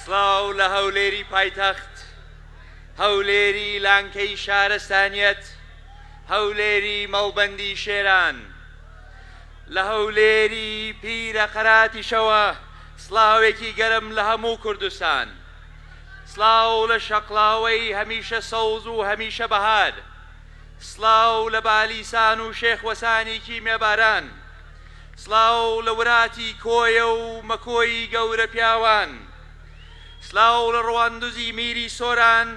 سڵاو لە هەولێری پایتەخت، هەولێری لانکەی شارەستانیەت، هەولێری مەڵبەندی شێران، لە هەولێری پیرە قەراتیشەوە سڵاوێکی گەرم لە هەموو کوردستان. سڵاو لە شەقڵاوەی هەمیشە سەوز و هەمیشە بەهار. سڵاو لە بالیسان و شێخ وەسانی کیمیاباران. سڵاو لە وراتی کۆیە و مەکۆی گەورە پیاوان سلاو لە ڕواندزی میری سۆران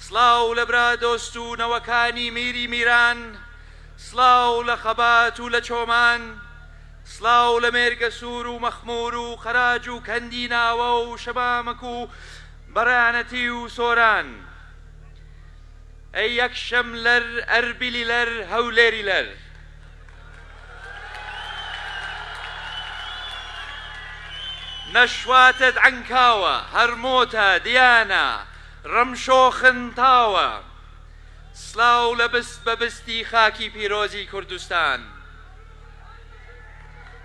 سڵاو لە برا دۆست و نەوەکانی میری میران سڵاو لە خەبات و لە چۆمان سڵاو لە مێرگە سوور و مەخمور و قەراج و کەندی ناوە و شەمامک و بەڕانەتی و سۆران ئەی یەکشەم لەر ئەربیلی لەر هەولێری لەر نشواتت عنکاوە هەر مۆتە دیانە ڕمشۆ خنتاوە. سلاو لە بست بە بستی خاکی پیرۆزی کوردستان.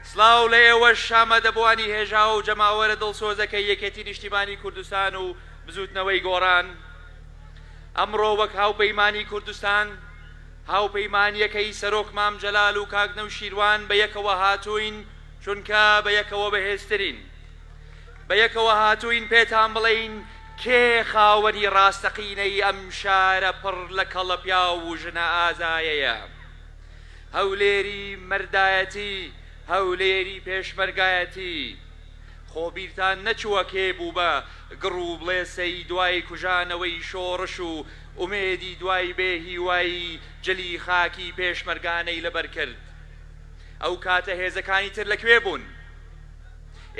سلاو لە ئێوەش شامەدەبوانی هێژاو جەماوەرە دڵسۆزەکەی یەکێتی نیشتیمانی کوردستان و بزوتنەوەی گۆڕان. ئەمڕۆ وەک هاوپەیمانی کوردستان، هاوپەیمانییەکەی سەرۆک مام جەلال و کاک نەوشیروان بە یەکەوە هاتووین چونکە بە یەکەوە بەهێزترین. بە یەکەوە هاتووین پێتان بڵێین کێ خاوەنی راستەقینەی ئەم شارە پڕ لە کەڵە پیاو و ژنە ئازایەیە. هەولێری مەردایەتی، هەولێری پێشمەرگایەتی. خۆ بیرتان نەچووە کێ بوو بە گڕ و بڵێسەی دوای کوژانەوەی شۆڕش و ئومێدی دوای بێ هیوایی جلی خاکی پێشمەرگانەی لەبەر کرد. ئەو کاتە هێزەکانی تر لە کوێ بوون؟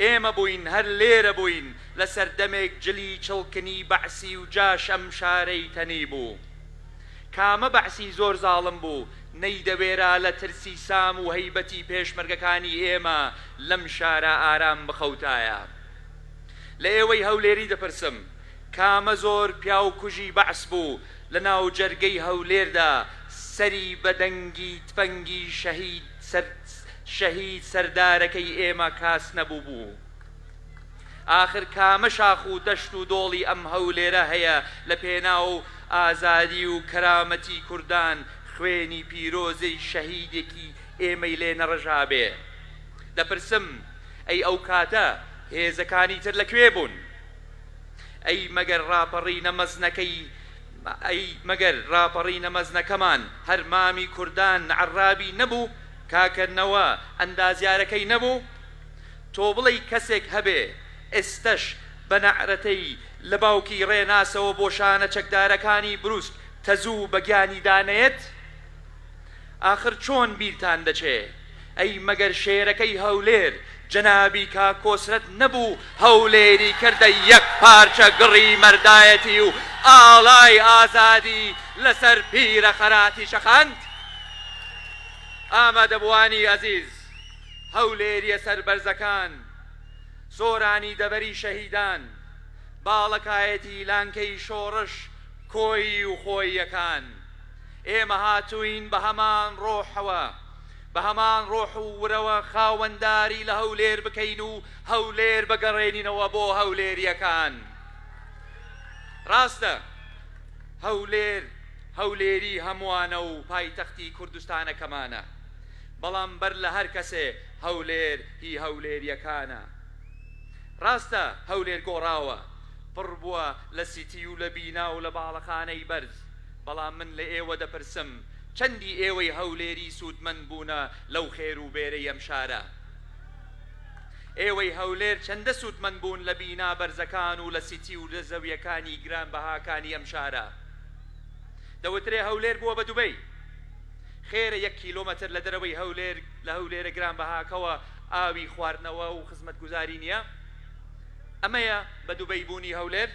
ئێمە بووین هەر لێرە بووین لە سەردەمێک جلی چڵکنی بەعسی و جاش ئەم شارەی تەنی بوو. کامە بەعسی زۆر زاڵم بوو نەیدەوێرا لە ترسی سام و هەیبەتی پێشمەرگەکانی ئێمە لەم شارە ئارام بخەوتایە. لە ئێوەی هەولێری دەپرسم کامە زۆر پیاو کوژی بەعس بوو لە ناو جەرگەی هەولێردا سەری بە دەنگی تفەنگی شەهید سەر شەهید سەردارەکەی ئێمە کاس نەبوو بوو ئاخر کامە شاخ و دەشت و دۆڵی ئەم هەولێرە هەیە لە پێناو ئازادی و کەرامەتی کوردان خوێنی پیرۆزی شەهیدێکی ئێمەی لێ نەڕژابێ دەپرسم ئەی ئەو کاتە هێزەکانی تر لە کوێ بوون؟ ئەی مەگەر ڕاپەڕینە مەزنەکەی ئەی مەگەر ڕاپەڕینە مەزنەکەمان هەر مامی کوردان عەڕابی نەبوو کاکە نەوە ئەندازیارەکەی نەبوو تۆ بڵێی کەسێک هەبێ ئێستەش بە نەعرەتەی لە باوکی ڕێناسەوە بۆ شانە چەکدارەکانی بروسک تەزوو بە گیانیدا نەیەت؟ ئاخر چۆن بیرتان دەچێ ئەی مەگەر شێرەکەی هەولێر جەنابی کاک کۆسرەت نەبوو هەولێری کردە یەک پارچە گڕی مەردایەتی و ئاڵای ئازادی لەسەر پیرە خەراتی چەقاند؟ ئامادەبووانی ئەزیز، هەولێریە سەربەرزەکان، سۆرانی دەڤەری شەهیدان، باڵەکایەتی لانکەی شۆڕش کۆیی و خۆییەکان، ئێمە هاتووین بە هەمان ڕۆحەوە، بە هەمان ڕۆح و ورەوە خاوەنداری لە هەولێر بکەین و هەولێر بگەڕێنینەوە بۆ هەولێرییەکان. ڕاستە هەولێر هەولێری هەمووانە و پایتەختی کوردستانەکەمانە، بەڵام بەر لە هەر کەسێ هەولێر هی هەولێرییەکانە. ڕاستە هەولێر گۆڕاوە، پڕ بووە لە سیتی و لە بینا و لە باڵەخانەی بەرز، بەڵام من لە ئێوە دەپرسم چەندی ئێوەی هەولێری سوودمەند بوونە لەو خێر و بێرەی ئەم شارە؟ ئێوەی هەولێر چەندە سوودمەند بوون لە بینا بەرزەکان و لە سیتی و لە زەویەکانی گران بەهاکانی ئەم شارە؟ دەوترێ هەولێر بووە بە دوبەی، خێرە یەک کیلۆمەتر لە دەرەوەی هەولێر لە هەولێرە گران بەهاکەوە ئاوی خواردنەوە و خزمەتگوزاری نییە؟ ئەمەیە بە دوبەی بوونی هەولێر؟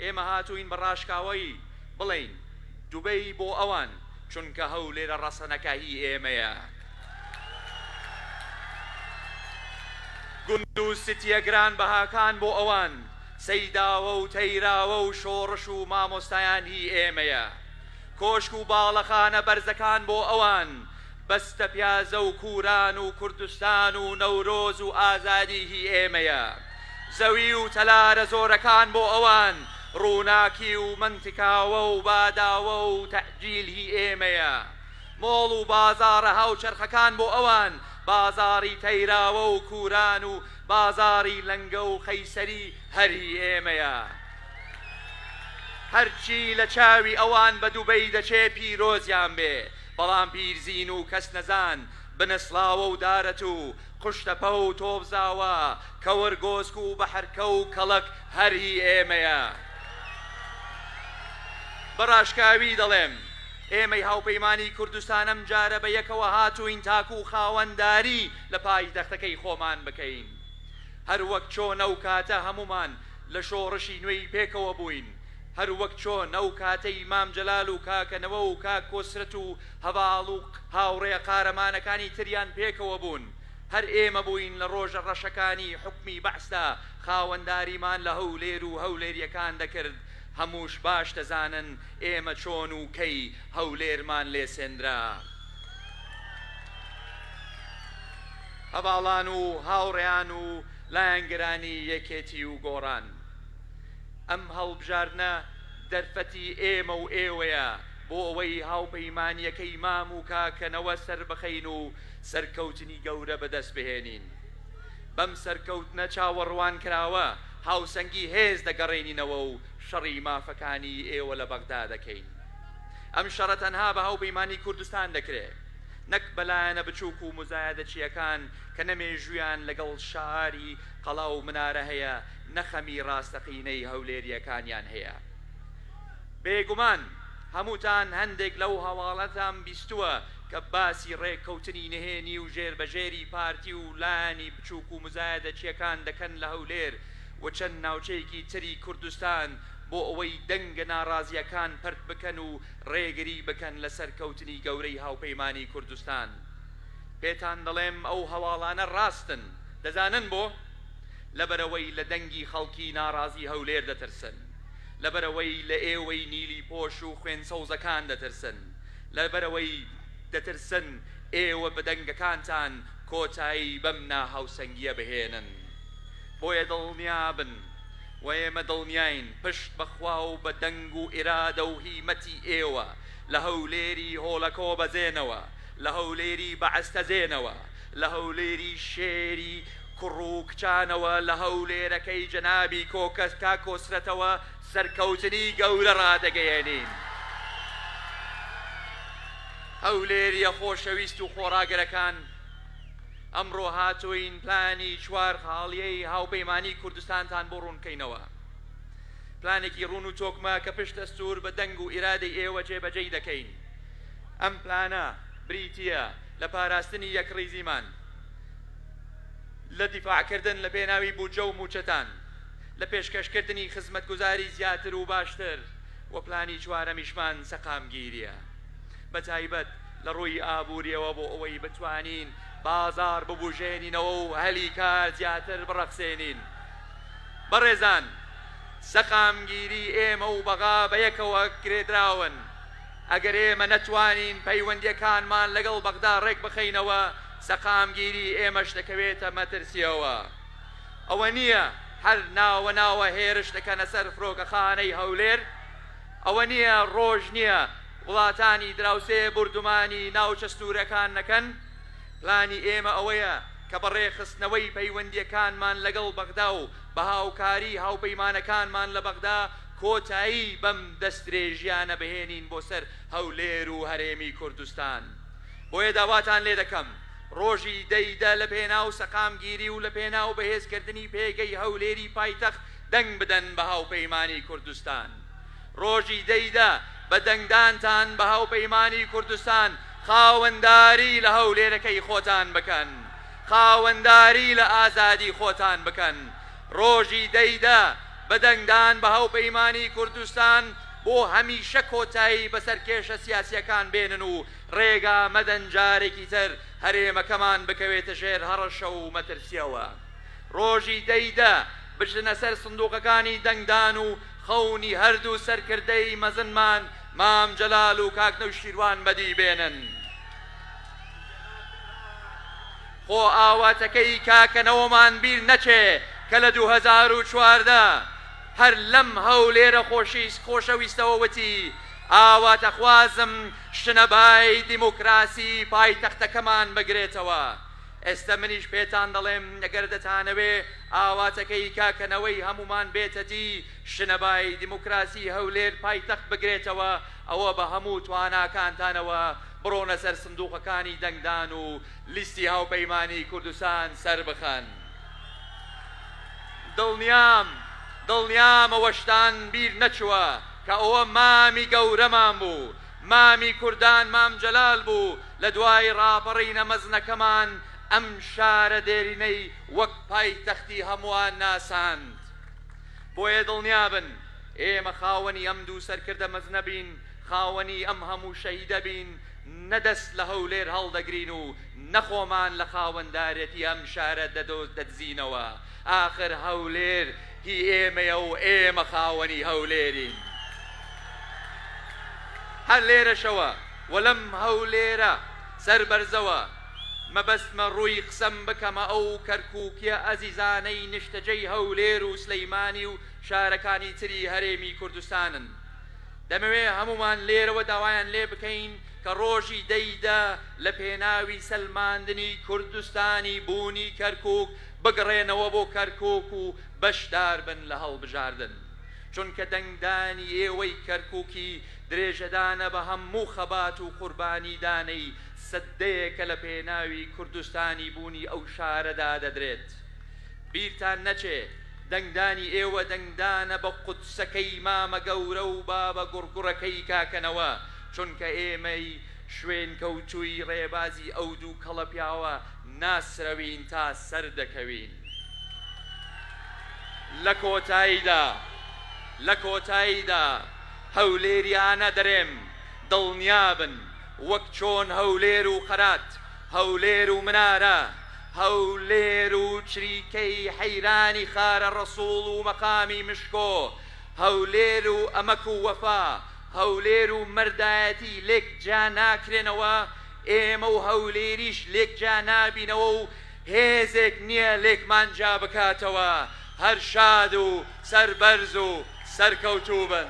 ئێمە هاتووین بە ڕاشکاوایی بڵێین دوبەی بۆ ئەوان، چونکە هەولێرە ڕەسەنەکە هی ئێمەیە. گوند و سیتیە گرانبەهاکان بۆ ئەوان، سەیداوە و تەیراوە و شۆڕش و مامۆستایان هی ئێمەیە. کۆشک و باڵەخانە بەرزەکان بۆ ئەوان، بەستە پیازە و کوران و کوردستان و نەورۆز و ئازادی هی ئێمەیە زەوی و تەلارە زۆرەکان بۆ ئەوان ڕووناکی و مەنتکاوە و باداوە و تەئجیل هی ئێمەیە مۆڵ و بازاڕە هاوچەرخەکان بۆ ئەوان بازاڕی تەیراوە و کوران و بازاڕی لەنگە و قەیسەری هەر هی ئێمەیە هەرچی لە چاوی ئەوان بە دوبەی دەچێ پیرۆزیان بێ بەڵام پیرزین و کەس نەزان بنەسڵاوە و دارەت و قوشتەپە و تۆپزاوە کەوەرگۆسک و بەحرکە و کەڵەک هەر هی ئێمەیە. بە ڕاشکاوی دەڵێم ئێمەی هاوپەیمانی کوردستان ئەمجارە بە یەکەوە هاتووین تاکوو خاوەنداری لە پایتەختەکەی خۆمان بکەین. هەر وەک چۆن ئەو کاتە هەموومان لە شۆڕشی نوێی پێکەوە بووین، هەر وەک چۆن ئەو کاتەی مام جەلال و کاکە نەوە و کاک کۆسرەت و هەڤاڵ و هاوڕێ قارەمانەکانی تریان پێکەوە بوون، هەر ئێمە بووین لە ڕۆژە ڕەشەکانی حوکمی بەعسدا خاوەنداریمان لە هەولێر و هەولێریەکان دەکرد، هەمووش باش دەزانن ئێمە چۆن و کەی هەولێرمان لێ سێندرا. هەڤاڵان و هاوڕێیان و لایەنگرانی یەکێتی و گۆڕان. ئەم هەڵبژاردنە دەرفەتی ئێمە و ئێوەیە بۆ ئەوەی هاوپەیمانییەکەی مام و کاکە نەوە سەربخەین و سەرکەوتنی گەورە بەدەست بهێنین. بەم سەرکەوتنە چاوەڕوانکراوە هاوسەنگی هێز دەگەڕێنینەوە و شەڕی مافەکانی ئێوە لە بەغدا دەکەین. ئەم شەڕە تەنها بە هاوپەیمانی کوردستان دەکرێ نەک بە لایەنە بچووک و موزایەدەچییەکان کە نە مێژوویان لەگەڵ شاری قەڵا و منارە هەیە، نەخەمی ڕاستەقینەی هەولێریەکانیان هەیە بێگومان هەمووتان هەندێک لەو هەواڵەتان بیستووە کە باسی ڕێککەوتنی نهێنی و ژێربەژێری پارتی و لایەنی بچووک و مزایەدەچیەکان دەکەن لە هەولێر و چەند ناوچەیەکی تری کوردستان بۆ ئەوەی دەنگە ناڕازیەکان پەرت بکەن و ڕێگری بکەن لە سەرکەوتنی گەورەی هاوپەیمانی کوردستان پێتان دەڵێم ئەو هەواڵانە ڕاستن دەزانن بۆ؟ لەبەرئەوەی لە دەنگی خەڵکی ناڕازی هەولێر دەترسن، لەبەرئەوەی لە ئێوەی نیلی پۆش و خوێن سەوزەکان دەترسن، لەبەرئەوەی دەترسن ئێوە بە دەنگەکانتان کۆتایی بەم ناهاوسەنگیە بهێنن. بۆیە دڵنیابن و ئێمە دڵنیاین پشت بە خوا و بە دەنگ و ئیرادە و هیمەتی ئێوە لە هەولێری هۆلەکۆ بەزێنەوە، لە هەولێری بەعس تەزێنەوە، لە هەولێری شێری کوڕ و کچانەوە لە هەولێرەکەی جەنابی کۆکەس تا کۆسرەتەوە سەرکەوتنی گەورە ڕادەگەیەنین. هەولێریە خۆشەویست و خۆڕاگرەکان، ئەمڕۆ هاتووین پلانی چوار خاڵیی هاوپەیمانیی کوردستانتان بۆ ڕوون بکەینەوە. پلانێکی ڕوون و تۆکمە کە پشت دەستوور بە دەنگ و ئیرادەی ئێوە جێبەجێی دەکەین. ئەم پلانە بریتییە لە پاراستنی یەکڕیزیمان، لە دیفاعکردن لە پێناوی بودجە و مووچەتان، لە پێشکەشکردنی خزمەتگوزاری زیاتر و باشتر و پلانی چوارەمیشمان سەقامگیرییە بە تایبەت لە ڕووی ئابوورییەوە بۆ ئەوەی بتوانین بازاڕ ببوژێنینەوە و هەلی کار زیاتر بڕەخسێنین. بەڕێزان، سەقامگیری ئێمە و بەغا بەیەکەوە گرێدراون. ئەگەر ئێمە نەتوانین پەیوەندییەکانمان لەگەڵ بەغدا ڕێکبخەینەوە، سەقامگیری ئێمەش دەکەوێتە مەترسییەوە. ئەوە نییە هەر ناوە ناوە هێرش دەکەنە سەر فرۆکەخانەی هەولێر؟ ئەوە نییە ڕۆژ نییە وڵاتانی دراوسێ بوردومانی ناوچە سنوورەکان نەکەن؟ پلانی ئێمە ئەوەیە کە بە ڕێکخستنەوەی پەیوەندییەکانمان لەگەڵ بەغدا و بە هاوکاریی هاوپەیمانەکانمان لە بەغدا، کۆتایی بەم دەستدرێژیانە بهێنین بۆ سەر هەولێر و هەرێمی کوردستان. بۆیە داواتان لێ دەکەم ڕۆژی دە ی دە لە پێناو سەقامگیری و لە پێناو بەهێزکردنی پێگەی هەولێری پایتەخت دەنگ بدەن بە هاوپەیمانی کوردستان. ڕۆژی دە ی دە بە دەنگدانتان بە هاوپەیمانی کوردستان خاوەنداری لە هەولێرەکەی خۆتان بکەن. خاوەنداری لە ئازادی خۆتان بکەن. ڕۆژی دە ی دە، بە دەنگدان بە هاوپەیمانیی کوردستان بۆ هەمیشە کۆتایی بەسەر کێشە سیاسییەکان بێنن و ڕێگا مەدەن جارێکی تر هەرێمەکەمان بکەوێتە ژێر هەڕەشە و مەترسییەوە. ڕۆژی دە ی دە، بچنە سەر سندووقەکانی دەنگدان و خەونی هەردوو سەرکردەی مەزنمان مام جەلال و کاک نەوشیروان بەدی بێنن. خۆ ئاواتەکەی کاکە نەوەمان بیر نەچێ کە لە دوو هەزار و چواردە هەر لەم هەولێرە خۆشیس خۆشەویستەوە وتی ئاواتەخوازم شنە بای دیموکراسی پایتەختەکەمان بگرێتەوە ئێستە منیش پێتان دەڵێم گەر دەتانەوێ ئاواتەکەی کاکە نەوەی هەموومان بێتە دی شنە بای دیموکراسی هەولێر پایتەخت بگرێتەوە ئەوە بە هەموو تواناکانتانەوە بڕۆنە سەر سندوقەکانی دەنگدان و لیستی هاوپەیمانیی کوردستان سەربخەن. دڵنیام، دڵنیام ئەوەشتان بیر نەچووە کە ئەوە مامی گەورەمان بوو، مامی کوردان مام جەلال بوو، لە دوای ڕاپەڕینە مەزنەکەمان ئەم شارە دێرینەی وەک پایتەختی هەمووان ناساند. بۆیە دڵنیا بن ئێمە خاوەنی ئەم دوو سەرکردە مەزنە بین، خاوەنی ئەم هەموو شەهیدە بین، نە دەست لە هەولێر هەڵدەگرین و نە خۆمان لە خاوەندارێتی ئەم شارە دەدزینەوە، ئاخر هەولێر هی ئێمەیە و ئێمە خاوەنی هەولێرین. هەر لێرەشەوە و لەم هەولێرە سەربەرزەوە مەبەستمە ڕووی قسەم بکەمە ئەو کەرکووکیە ئەزیزانەی نیشتەجێی هەولێر و سلەیمانی و شارەکانی تری هەرێمی کوردستانن، دەمەوێ هەموومان لێرەوە داوایان لێ بکەین کە ڕۆژی دە ی دە لە پێناوی سەلماندنی کوردستانی بوونی کەرکوک بگڕێنەوە بۆ کەرکوک و بەشدار بن لە هەڵبژاردن چونکە دەنگدانی ئێوەی کەرکوکی درێژەدانە بە هەموو خەبات و قوربانیدانەی سدەیەکە لە پێناوی کوردستانی بوونی ئەو شارەدا دەدرێت بیرتان نەچێ دەنگدانی ئێوە دەنگدانە بە قودسەکەی مامە گەورە و بابە گوڕگوڕەکەی کاکە نەوە، چونکە ئێمەی شوێنکەوتووی ڕێبازی ئەو دوو کەڵە پیاوە ناسرەوین تا سەر دەکەوین. لە کۆتاییدا لە کۆتاییدا هەولێریانە دەرێم دڵنیابن وەک چۆن هەولێر و قەرات، هەولێر و منارە، هەولێر و چریکەی حەیرانی خارە ڕەسوڵ و مەقامی مشکۆ هەولێر و ئەمەک و وەفا هەولێر و مەردایەتی لێک جیا ناکرێنەوە ئێمە و هەولێریش لێک جیا نابینەوە و هێزێک نیە لێکمان جیا بکاتەوە هەر شاد و سەربەرز و سەرکەوتووبن.